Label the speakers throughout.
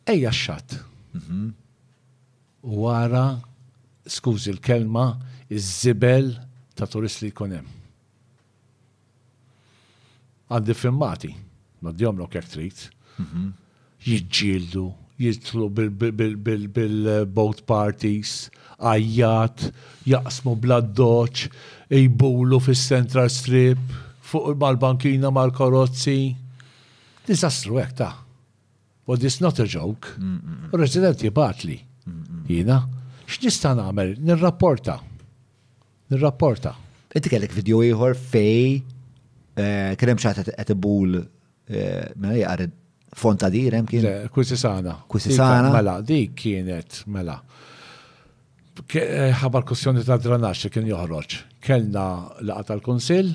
Speaker 1: Ejja x-xatt. U ara, skużi l-kelma, iż-żibel ta' turist li jkun hemm. Għandi filmati, noddihomlok jekk trid. Jiġġieldu, jidħlu bil-boat parties, għajjat, jaqsmu bl-addoċċ, jbulu fis-Central Strip, fuq mal-bankina mal-karozzi. Diżastru hekk ta. But it's not a joke. Resident jibgħatli. Jiena, x'nista' nagħmel? Nirrapporta. Nirrapporta.
Speaker 2: Inti kellek video ieħor fej eh, kien hemm xaħat qed ibul eh, mela jaqar fonta dir hemm kien. Kwisisana.
Speaker 1: Kwisisana. Mela, dik kienet, mela. Eh, ħabar kussjoni ta' dranax li kien joħroġ. Kellna laqa tal-Kunsill,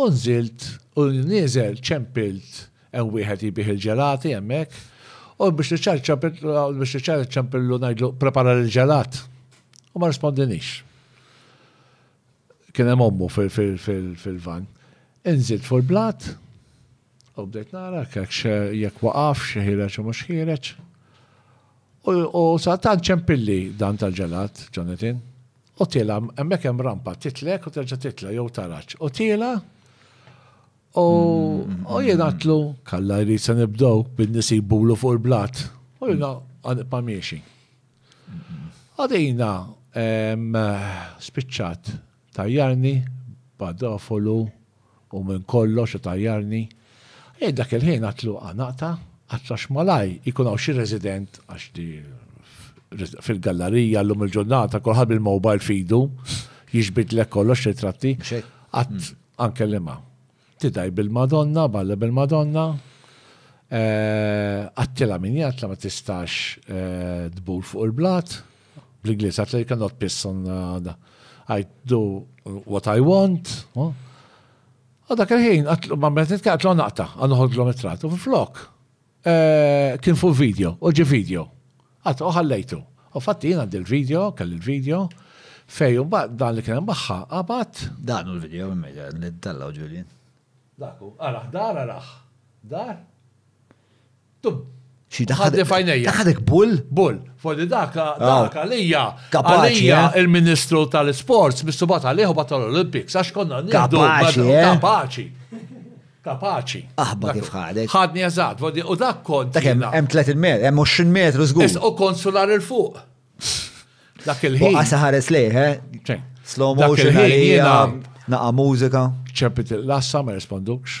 Speaker 1: U nżilt u nieżel ċempilt hemm wieħed jbigħ il-ġelati hemmhekk u biex niċċara ċ-ċempilt biex niċċara ċ-ċempillu ngħidlu prepara l-ġelat. U ma rispondinix. Kien hemm ommu fil-van. Inżilt fuq il-blat u bdejt nara jekk waqaf xi ħireġ u mhux ħireġ. U sa tant ċempilli dan tal-ġelat, Jonathan. U tiela', hemmhekk hemm rampa, titlek u terġa' titla' jew taraġ. U tiela' u mm-hmm. jingħatlu kalla jrid se nibdew bin nisibulu fuq il-blat. U jina għanibqa' miexi. Għadina spiċċat tajjarni badofolu u minn kollox itajjarni, jien dak il-ħin għadt luqa naqta' għadd għax malaj ikun hawn xi resident għax di fil-gallarija llum il-ġurnata kulħadd bil-mobile f'idu jiġbidlek kollox ritratti għadd anke li ma. Tidaj bil-Madonna, balla bil-Madonna, għattila min jgħatla ma tistax tbur fuq il-blat. Bl-Ingliż, għat li cannot piss on uh, I do what I want. U oh. dak il-ħin, ma meta nitkellem għatlu naqta, għanħod l it-trat. U flok, eh, kien fuq video, u ġi video. Għat, uħallejtu. U fatti jina għand il-video, kelli il-video, fej, u dan li kien baħħa, għabat. Dan u l-video,
Speaker 2: li d-dalla u ġulin. Daku,
Speaker 1: għaraħ, dar, għaraħ, dar. Xi
Speaker 2: daħħadek fajnejja. Daħħadek bull? Bull. Fordi
Speaker 1: daka, ah. daka lija. Għalija eh? il-Ministru tal-Sports, Mr. Batali, u Batal Olympics, għax konna niddu. Kapaċi. Eh? Kapaċi. Kapaċi. Aħba kif ħadek.
Speaker 2: Ħadni eżat,
Speaker 1: u dak kont. Dak hemm 30 metru,
Speaker 2: hemm 20 metru żgur. U konsular il-fuq.
Speaker 1: Dak il-ħin. Għasa ħares lejh, eh?
Speaker 2: Slow motion għalija, naqa mużika. ċempit il-lassa,
Speaker 1: ma respondux.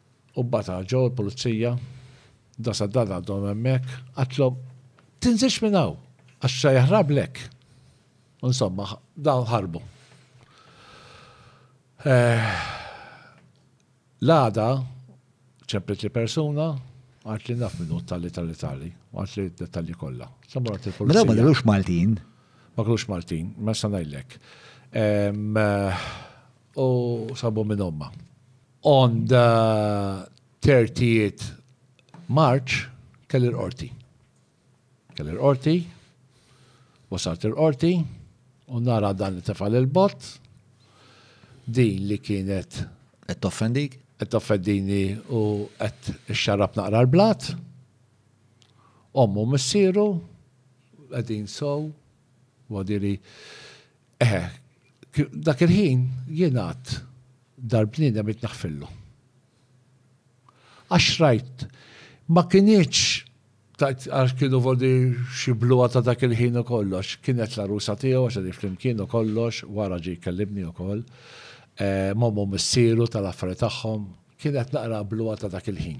Speaker 1: U bata ġo l-pulizija, dasa dan għadhom hemmhekk, qatlhom, Tinżilx minn hawn, għax se jaħrablek. U insomma, dawn ħarbu. Eh, l-għada ċemplit li persuna, għart li naf minnu tali tali tali, għart li dettalji kollha. Samura tilfu. Mela ma kienux Maltin.
Speaker 2: Ma kienux
Speaker 1: Maltin, ma sanajlek. Eh, u sabu minn omma. On the 30th March kelli l-qorti. Kelli l-qorti, wasalt il-qorti, u nara dan li tefal il-bot, din li kienet. Qed toffendik?
Speaker 2: Qed toffendini
Speaker 1: u qed ixxarrab naqra l-blat. Ommu missieru, qegħdin sow, u għadili Eħe, dak il-ħin jien għad darbnina mit naħfillu. Għax rajt, ma kienieċ għax kienu vodi xibluwa ta' dak il-ħin u kollox, kienet la rusa tiegħu għax għadif flimkien u kollox, wara ġi kellimni u koll, eh, mommu missiru tal-affari tagħhom, kienet naqra bluwa ta' dak il-ħin.